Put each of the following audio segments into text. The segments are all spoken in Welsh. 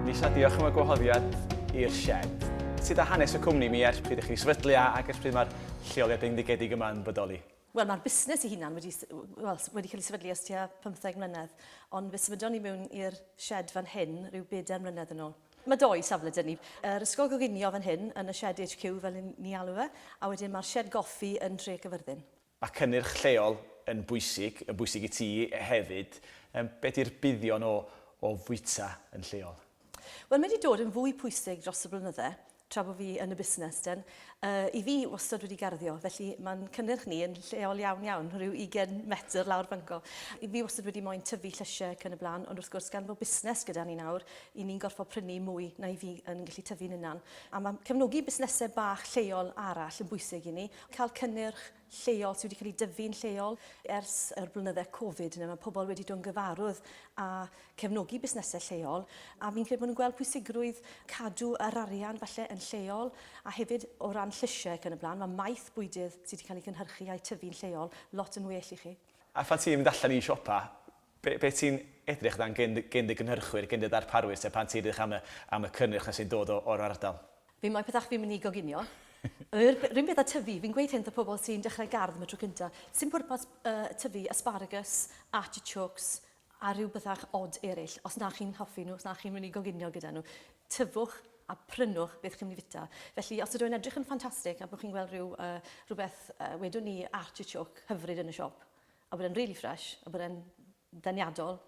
Lisa, diolch am y gwahoddiad i'r shed. Sut a hanes y cwmni mi ers pryd ych chi sefydlu a ac ers pryd mae'r lleoliad bendigedig yma yn bodoli? Wel, mae'r busnes ei hunan wedi, well, wedi cael ei sefydlu ers tua 15 mlynedd, ond fe symudon ni mewn i'r shed fan hyn rhyw bedair mlynedd yn ôl. Mae dou safle 'da ni. Yr Ysgol Goginio fan hyn, yn y Shed HQ fel ry'n ni alw fe, a wedyn mae'r Shed Goffi yn Nhref Cyfyrddin. Mae cynnyrch lleol yn bwysig, yn bwysig i ti hefyd. Yym, be' 'di'r buddion o o fwyta yn lleol? Wel, mae 'di dod yn fwy pwysig dros y blynydde. tra bo fi yn y busnes den. Yy i fi wastad wedi garddio felly ma'n cynnyrch ni yn lleol iawn iawn, rhyw 20 metr lawr fanco. I fi wastad wedi moyn tyfu llysie ac yn y blan ond wrth gwrs gan fo busnes gyda ni nawr i ni'n gorffo prynu mwy na i fi yn gallu tyfu'n unan. A ma cefnogi busnese bach lleol arall yn bwysig i ni. Ca'l cynnyrch lleol sydd wedi cael ei dyfu'n lleol ers yr blynydde Covid yna. Mae pobl wedi dod yn gyfarwydd a cefnogi busnesau lleol a fi'n credu bod nhw'n gweld pwysigrwydd cadw yr arian falle yn lleol a hefyd o ran llysiau ac yn y blaen, mae maeth bwydydd sydd wedi cael ei gynhyrchu a'i tyfu'n lleol lot yn well i chi. A phan ti'n mynd allan i siopa, Be, be ti'n edrych dan gen, gen dy gynhyrchwyr, gen dy ddarparwyr te, pan ti'n edrych am y, am y cynnyrch na sy'n dod o, o'r ardal? Fi'n moyn pethau fi'n mynd i goginio. Yr run peth a tyfu, fi'n gweud hyn wrth y pobl sy'n dechrau gardd am y tro cynta, sdim pwrpas uh, tyfu asparagus, artichokes, a rhyw bethau odd eraill, os na chi'n hoffi nhw, os na chi'n mynd i goginio gyda nhw. Tyfwch a prynwch beth chi'n mynd i fita. Felly, os ydw i'n edrych yn ffantastig a bod chi'n gweld rhyw, uh, rhywbeth, uh, wedwn ni artichoke hyfryd yn y siop, a bod e'n really fresh, a bod e'n ddeniadol,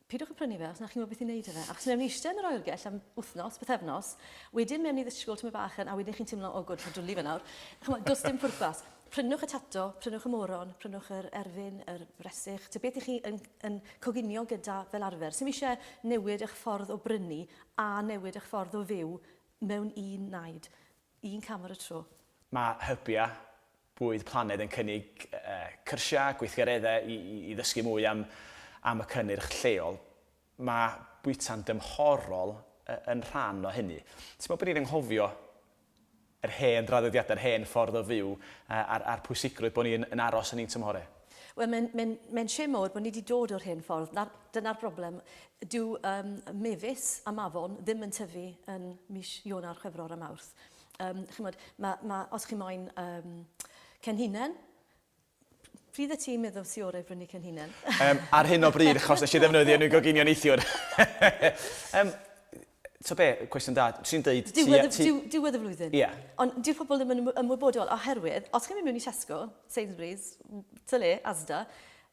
pidwch yn prynu fe os na chi'n gwybod beth i wneud â fe. Achos mewn eistedd yn yr oergell am wythnos, bythefnos, wedyn mewn i ddisgwyl tyma bach yn, a wedyn chi'n teimlo, o gwrdd, dwlu fe nawr. Chymod, does dim pwrpas. Prynwch y tato, prynwch y moron, prynwch yr erfyn, yr resych, ty beth i chi yn, yn coginio gyda fel arfer. Sy'n eisiau newid eich ffordd o brynu a newid eich ffordd o fyw mewn un naid, un cam ar y tro. Mae hybiau Bwyd Planed yn cynnig cyrsiau, gweithgareddau i i ddysgu mwy am am y cynnyrch lleol. Mae bwyta'n dymhorol yn rhan o hynny. Ti'n meddwl bod ni'n anghofio yr hen draddodiadau, yr hen ffordd o fyw a'r a'r pwysigrwydd bod ni yn aros yn ein tymhorau? Wel mae'n mae'n mae'n shame mawr bod ni 'di dod o'r hen ffordd. 'Na dyna'r broblem. Dyw yym mefus a mafon ddim yn tyfu yn mis Ionawr, Chwefror a Mawrth. Um, chymod, ma, ma, os chi moyn um, cenhinen, pryd y ti'n meddwl ti orau brynu cenhinen? um, ar hyn o bryd, achos nes i ddefnyddio nhw'n goginio neithiwr. um, to be, cwestiwn da, ti'n dweud... Diwedd y flwyddyn. Ie. Yeah. Ond diw'r pobl ddim yn ymwybodol, oherwydd, os chi'n mynd mewn i Tesco, Sainsbury's, Tyle, Asda,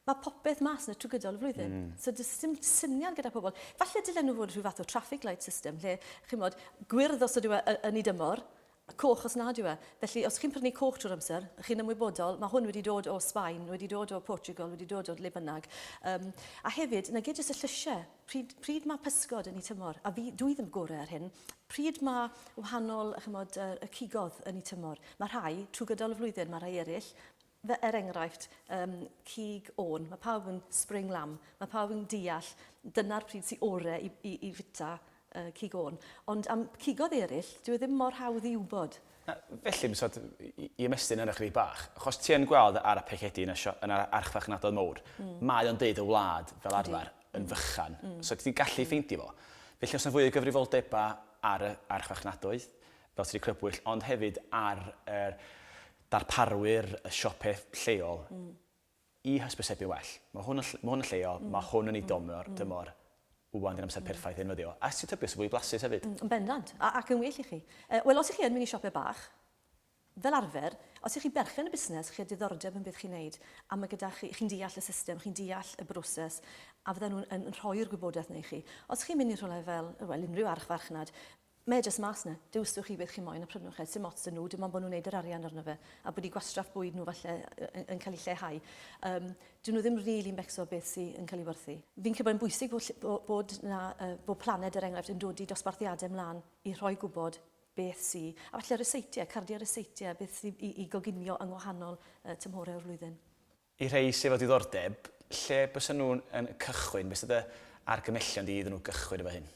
Mae popeth mas 'na trwy gydol y flwyddyn. So does dim syniad gyda pobl. Falle dylen nhw fod rhyw fath o traffic light system lle, chi'n bod, gwyrdd os ydyw e yn y dymor, coch os nad yw e. Felly os chi'n prynu coch trwy'r amser, chi'n ymwybodol, mae hwn wedi dod o Sbaen, wedi dod o Portugal, wedi dod o le bynnag. Um, a hefyd, na gyd jyst y llysiau. Pryd, pryd mae pysgod yn ei tymor, a fi, dwi ddim gorau ar hyn, pryd mae wahanol chymod, y cigodd yn ei tymor. Mae rhai trwy gydol y flwyddyn, mae rhai eraill Fe, er enghraifft, um, cig ôn, mae pawb yn spring lamb, mae pawb yn deall dyna'r pryd sy'n ore i, i, i fita uh, cig ôn. Ond am cigodd eraill, dwi e ddim mor hawdd i wybod. Na, felly, mae'n sort, i, i ymestyn yna chydig bach, achos ti yn gweld ar y pecedi yn y, sio, yn yr archfarchnadoedd mowr, mm. mae o'n deud y wlad fel arfer yn fychan, mm. so ti'n gallu mm. ffeindio fo. Felly os yna fwy o gyfrifoldebau ar y archfarchnadoedd, fel sy'n crybwyll, ond hefyd ar yr er, darparwyr y siope lleol i hysbysebu'n well. Mae hwn yn ll- ma' hwn yn lleol, mae hwn yn ei dymor, dymor, ŵan di'r amser perffaith i ddefnyddio. A os ti'n tybio, sy'n fwy blasus hefyd. Yn bendant, a- ac yn well i chi. Yy, wel, os ych chi yn mynd i siope bach, fel arfer, os ych chi berchen y busnes, chi â diddordeb yn beth chi'n neud, a ma' gyda chi, chi'n deall y system, chi'n deall y broses, a fydden nhw'n yn yn rhoi'r gwybodaeth 'na i chi. Os chi'n mynd i rhywle fel, wel, unrhyw archfarchnad, Mae e jyst mas 'na. Dewisiwch chi beth chi moyn a prynwch e. Sim ots 'da nhw, dim ond bod nhw'n neud yr arian arno fe a bod eu gwastraff bwyd nhw falle yn cael ei lleihau. Yym, dyw nhw ddim rili'n becso beth sy yn cael ei werthu. Fi'n credu bod e'n bwysig bod ll- bod 'na yy bod Planed, er enghraifft, yn dodi dosbarthiadau 'mlan i rhoi gwybod beth sy, a falle ryseitiau, cardiau ryseitiau, beth sydd i i goginio yng ngwahanol yy tymhorau o'r flwyddyn. Y rhai sydd efo diddordeb, lle bysen nhw yn cychwyn? Be sy dy argymellion di iddyn nhw gychwyn efo hyn?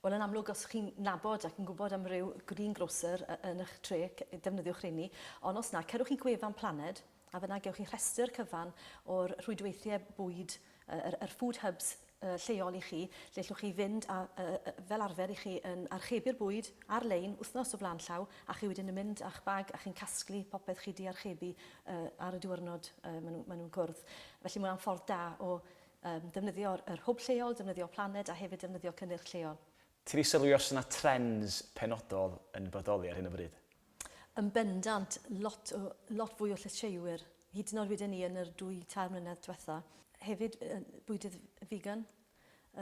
Wel yn amlwg os chi'n nabod ac yn gwybod am ryw green grocer yn ych tre, defnyddiwch rheini. Ond os na, cerwch i gwefan Planed a fan'na gewch chi rhestr cyfan o'r rhwydweithiau bwyd, yr yr food hubs lleol i chi, lle ellwch chi fynd a, fel arfer, i chi yn archebu'r bwyd ar-lein wythnos o flaen llaw a chi wedyn yn mynd â'ch bag a chi'n casglu popeth chi 'di archebu ar y diwrnod maen nhw'n cwrdd. Felly mae hwnna'n ffordd da o ddefnyddio yr hwb lleol, defnyddio Planed a hefyd defnyddio cynnyrch lleol. Ti di sylwi os yna trends penodol yn bodoli ar hyn o bryd? Yn bendant, lot o, lot fwy o llysieuwyr, hyd yn oed weden ni yn yr dwy, tair mlynedd dwetha. Hefyd, bwydydd figan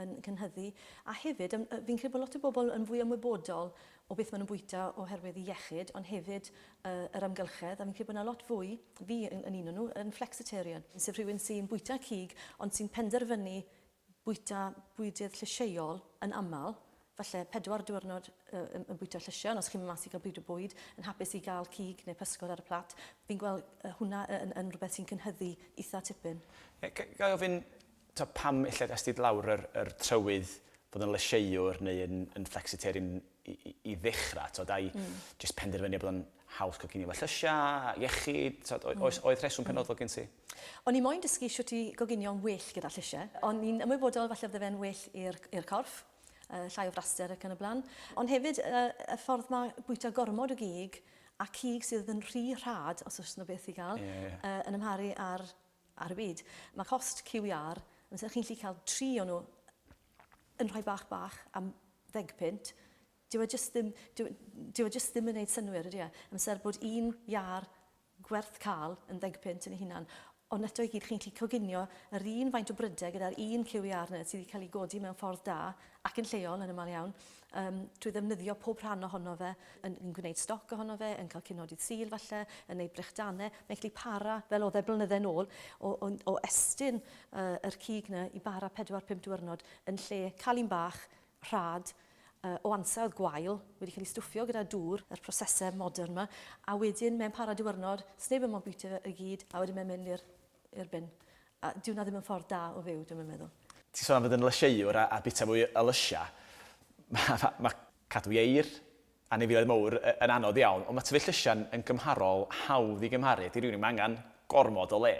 yn cynhyddu, a hefyd, fi'n credu bod lot o bobl yn fwy ymwybodol o beth ma' nhw'n bwyta oherwydd i iechyd, ond hefyd yr amgylchedd, a fi'n credu bod yna lot fwy, fi yn un o nhw, yn flexitarian, sef rhywun sy'n bwyta cig ond sy'n penderfynu bwyta bwydydd llysieuol yn aml, falle pedwar diwrnod yn bwyta llysiau, ond os chi'n mynd mas i gael bryd o bwyd, yn hapus i gael cig neu pysgod ar y plat, fi'n gweld hwnna yn rhywbeth sy'n cynhyddu eitha' tipyn. Ga i ofyn ta pam ella ges ti lawr yr trywydd bod yn lysieuwr neu yn flexitarian i ddechrau, tibod, ai jyst penderfyniad bod o'n haws cael cinio efo llysiau, iechyd, tibod, oes, oedd rheswm penodol gen ti? O'n i moyn dysgu shwt i goginio'n well gyda llysie. O'n i'n ymwybodol falle fydde fe'n well i'r i'r corff, yy llai o fraster ac yn y bla'n. Ond hefyd yy y ffordd ma' bwyta gormod o gig a cig sydd yn rhy rhad, os o's 'na beth i ga'l... Ie ie. ...yy yn amharu ar ar y byd. Ma' cost QVR, amser chi'n 'llu ca'l tri o nw yn rhai bach bach am ddeg punt, Dyw o jyst ddim, dyw, dyw o jyst ddim yn neud synnwyr, ydy e? Amser bod un iâr gwerth ca'l yn ddeg punt yn ei hunan. Ond eto i gyd chi'n gallu coginio yr un faint o bryder gyda'r un cyw iâr 'na sydd 'di cael ei godi mewn ffordd da, ac yn lleol yn ymal iawn, yym, trwy ddefnyddio pob rhan ohono fe, yn, yn gwneud stoc ohono fe, yn cael cinodydd Sul falle, yn neud brechdanau, mae'n gallu para, fel oedd e blynydde'n ôl, o, o, o estyn yy, yr cig 'na i bara pedwar, pump diwrnod, yn lle cael un bach, rhad o ansawdd gwael wedi cael ei stwffio gyda dŵr, yr prosesau modern 'ma, a wedyn mae'n para diwrnod, sneb yn mo'n bwyta fe i gyd, a wedyn mae'n mynd i'r i'r bin. A dyw 'na ddim yn ffordd da o fyw, dwi'm yn meddwl. Ti'n sôn am fod yn lysieuwr a a bwyta mwy o lysiau. Ma' ma' ma' cadw ieir, Anifeiliaid mawr yn anodd iawn, ond mae tyfu llysiau'n yn gymharol hawdd i gymharu ydy rhywun i'm angen gormod o le.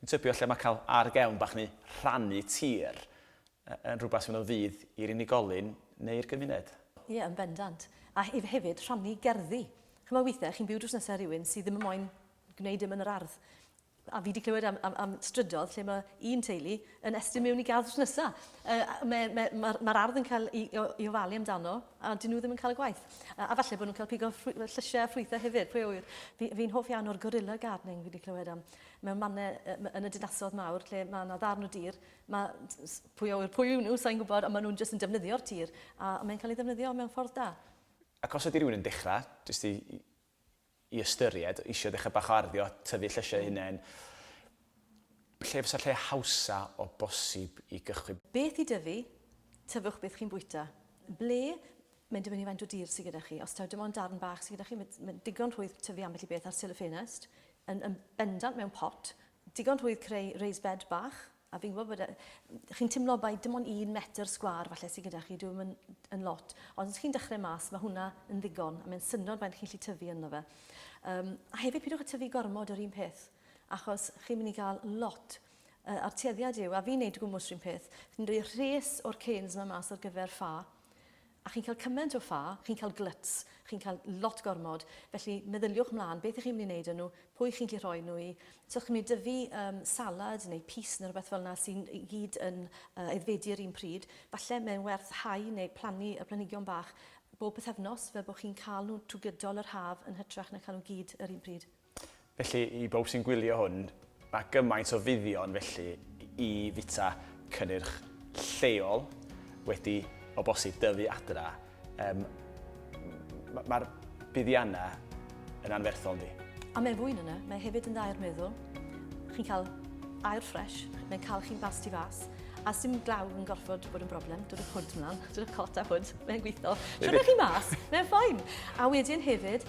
Dwi'n tybio lle mae cael ar gefn bach neu rhannu tir yn rhywbeth sy'n mynd o fudd i'r unigolyn neu'r gymuned. Ie, yn bendant. A hefyd rhannu gerddi. Chimod weithiau chi'n byw drws nesa rhywun sydd ddim yn moyn gwneud dim yn yr ardd. A fi 'di clywed am, am, am strydodd lle mae un teulu yn estyn mewn i gardd drws nesaf. Uh, Mae'r ma, ma, ma ardd yn cael ei, ei ofalu amdano a dyn nhw ddim yn cael y gwaith. Uh, a falle bod nhw'n cael pigo llysiau a ffrwythau hefyd, pwy o wir. Fi'n fi hoff iawn o'r gorilla gardening fi wedi clywed am. Mewn mannau uh, yn y dinasodd mawr lle mae yna ddarn o dir, mae pwy o wir, pwy yw nhw, sa'n gwybod, ond maen nhw'n jyst yn defnyddio'r tir a mae'n cael ei ddefnyddio mewn ffordd da. Ac os ydy rhywun yn dechrau, jyst i i ystyried, isio dechrau bach o arddio, tyfu llysiau eu hunain, lle fysa'r lle hawsa o bosib i gychwyn? Beth i dyfu, tyfwch beth chi'n bwyta. Ble, mae'n dibynnu faint o dir sydd gyda chi, os taw dim ond darn bach sydd gyda chi, mae'n ddigon rhwydd tyfu ambell i beth ar sill y ffenest, yn bendant mewn pot, digon rhwydd creu raised bed bach, A fi'n gwybod bod... E, chi'n timlo bai dim ond un metr sgwar falle sydd gyda chi, dwi'n yn, yn lot. Ond os chi'n dechrau mas, mae hwnna yn ddigon, a mae'n syndod faint chi'n lli tyfu ynddo fe. Um, a hefyd pidwch y tyfu gormod yr un peth, achos chi'n mynd i gael lot uh, a'r tueddiad yw, a fi'n neud gwmwys rhywun peth, fi'n rhoi rhes o'r canes yma mas ar gyfer ffa, A chi'n cael cymaint o ffa, chi'n cael glyts, chi'n cael lot gormod, felly meddyliwch mlaen beth 'y chi'n mynd i wneud â nhw, pwy chi'n gallu rhoi nhw i. So chi'n mynd i dyfu yym salad neu pys neu rywbeth fel 'na sy'n i gyd yn yy aeddfedu yr un pryd, falle mae'n werth hau neu plannu y planhigion bach bob pythefnos fel bod chi'n cael nhw trwy gydol yr haf yn hytrach na cael nhw gyd yr un pryd. Felly, i bawb sy'n gwylio hwn, mae gymaint o fuddion felly i fwyta cynnyrch lleol wedi o bosib dyfu adra. Yym, m- mae'r buddiannau yn anferthol, yndi? A mae'n fwy na 'na, mae hefyd yn dda i'r meddwl. Chi'n cael aer ffresh, mae'n cael chi'n fast tu fas, a sdim glaw yn gorfod bod yn broblem. Dod â'r hwd mlaen, dod â'r cot a hwd, mae'n gweithio. Siwrna chi mas, mae'n ffain. A wedyn hefyd,